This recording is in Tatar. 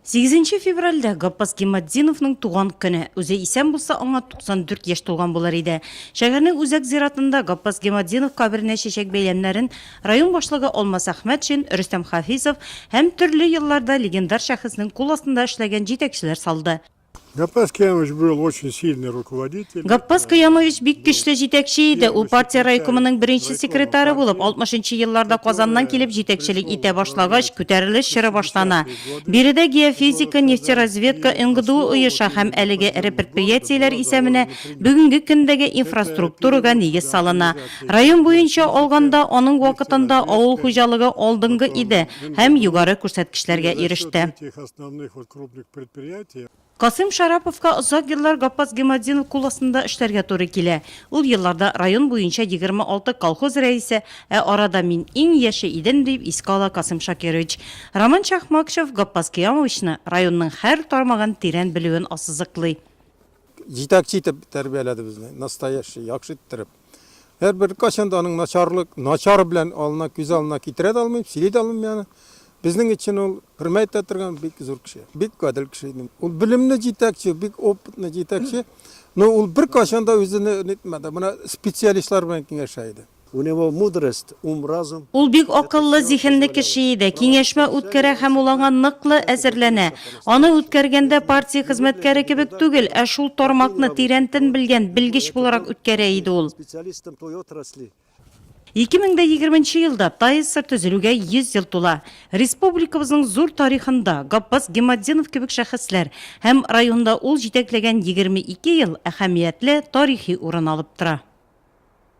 Сигезенче февральдә Гаппас Гиматдиновның туган көне. Үзе исән булса, аңа 94 яшь тулган булыр иде. Шәһәрнең үзәк зиратында Гаппас Гиматдинов каберенә чәчәк бәйләмнәрен район башлыгы Алмас Әхмәтшин, Рөстәм Хафизов һәм төрле елларда легендар шәхеснең кул астында эшләгән җитәкчеләр салды. Гаппас Киямович был очень сильный руководитель. Гаппас Киямович бик көчле җитәкче иде. Ул партия райкомының беренче секретары булып 60-нчы елларда Казаннан килеп җитәкчелек итә башлагач, күтәрелеш чоры башлана. Биредә геофизика, нефтеразведка, НГДУ оеша һәм әлеге эре предприятиеләр исәменә бүгенге көндәге инфраструктурага нигез салына. Район буенча алганда, аның вакытында авыл хуҗалыгы алдынгы иде һәм югары күрсәткечләргә иреште. крупных предприятий. Касыйм Шараповка озак еллар Гаппас Гематдинов кул астында эшләргә туры килә. Ул елларда район буенча егерме алты колхоз рәисе, ә арада мин иң яше идем, дип искә ала Касыйм Шакирович. Роман Чахмакшев Гаппас Киямовичны, районның һәр тармагын тирән белүен ассызыклый. Җитәкче итеп тәрбияләде безне, настоящий, яхшы иттереп. Әр бер качан да аның начарлык, начар белән алына күз алына китерә дә алмыйм, сөйли дә алмыйм яны. Безнең өчен ул хөрмәт итә торган бик зур кеше, бик гадел кеше иде. Ул белемле җитәкче, бик опытный җитәкче. Но ул бер качан да үзен нитмәде. Менә специалистлар белән киңәшә иде. У него мудрость ум разум. Ул бик акыллы зиһенле кеше иде, киңәшмә үткәрә һәм ул аңа ныклы әзерләнә. Аны үткәргәндә партия хезмәткәре кебек түгел, ә шул тармакны тирәнтен белгән белгеч буларак үткәрә иде ул. Ике мең дә егерменче елда ТАИСР төзелүгә 100 ел тула. Республикабызның зур тарихында Гаппас Гиматдинов кебек шәхесләр һәм районда ул җитәкләгән 22 ел әһәмиятле тарихи урын алып тора.